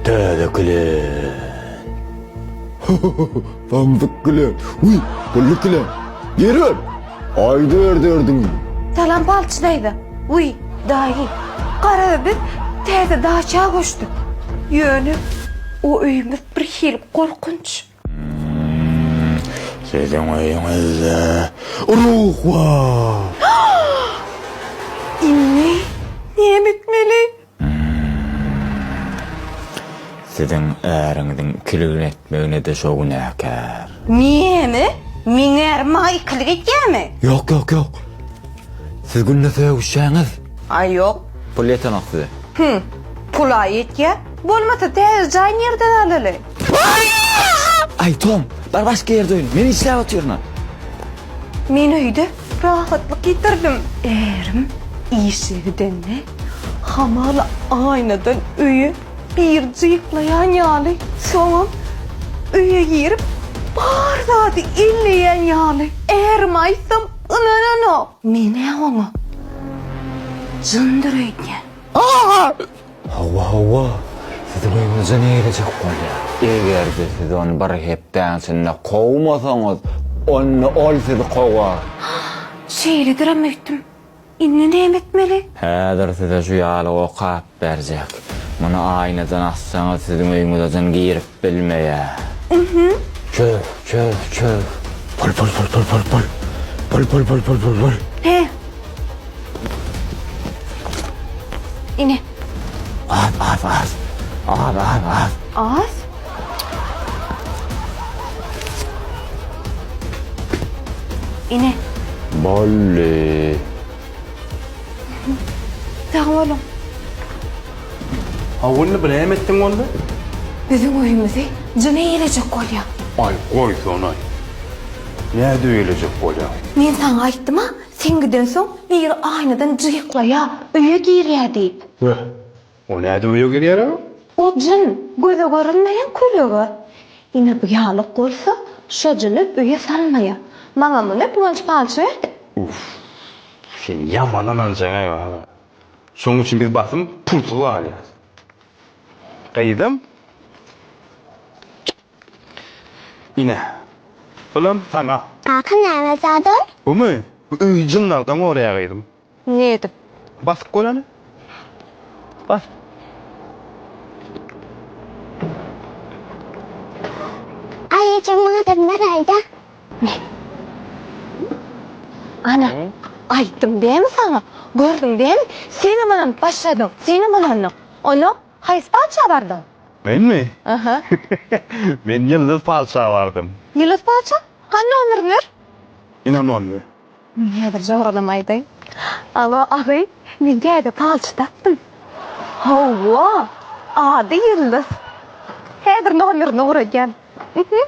Täze klen. Samdyk klen. Uy, gully klen. Geri ol. Ayda ördürdüm. Salam palçy daýza. Uy, daýy. Gara biz täze daça göçdük. Ýöne o öýümiz bir hili gorkunç. Siziň öýüňizde ruh bar. Indi näme etmeli? Siziň äriňiziň ikiligini etmegine-de şo günäkär. Näme? Meň ärim maňa ikilik edýärmi? Ýok, ýok, ýok. Siz günde söýüşýäňiz. Aý, ýok. Pul ýetenok size. Hüň, pul-a ýetýär. Bolmasa, täze jaý nirden alaly? Aý, Tom, bar başga ýerde oýna. Men işläp otyryn-a. Men öýde rahatlyk ýitirdim. Ärim işe gidende, hamala aýnadan öýe bir jyklaýan ýaly, soňam öýe girip, bar zady elleýän ýaly. Ärime aýtsam, ynananok. Men-ä oňa jyndyr öýdýän. Hawa, hawa, siziň öýüňize ne gelejek bolýar? Eger-de siz ony bir hepdäň içinde kowmasaňyz, onda ol sizi kowar. Hah, şeýledirem öýtdüm. Indi näme etmeli? Häzir size şu ýaly okap berjek. Muny aýnadan assaňyz, siziň öýüňize jyn girip, Bilmeýä. Çöz, çöz, çöz. Pul, pul, pul, pul, pul, pul. Pul, pul, pul, pul, pul, pul. He. Ine. Az, az, az. Az, az, az. Az. Ine. Bolly. Sag boluň. Hawa onda bu näme etdiň onda? Biziň öýümizi jyn eýelejek bolýa. Aý goýsanaý. Nädip eýelejek bolýa? Men saňa aýtdym-a, sen gidensoň biri aýnadan jyýyklaýa, öýe girýä diýip. Weh, O nädip öýe girýär-a? O jyn, göze görünmeýän kölega. Ine bu ýalyk bolsa, şo jyny öýe salmaýa. Maňa muny Guwanç palçy berdi. Uff, sen ýaman ynanjaň-aý baba. Şonuň üçin biz basym pulsuz galýarys. Gyzym, ine, bulam saňa. Kaka näme zat ol? Bumy? Bu öýi jynlardan gorýar gyzym. Nädip. Basyp bolany? Bas. Aý ejeň maňa bir name aýda. Ne? Ana, aýtdym dämi saňa? Gördüň dämi, senem ynanyp başladyň. Senem ynandyň. Onda haýsy patyşa bardyň? Menmi? Aha. Men Ýyldyz patyşa bardym. Ýyldyz patyşa? Hany nomeriňi ber. Ynanmanmy? Men häzir jagyralym aýdaýyn. Alo, agy, men täze palçy tapdym. Hawa, ady Ýyldyz. Häzir nomerini guradýan. Uhuh.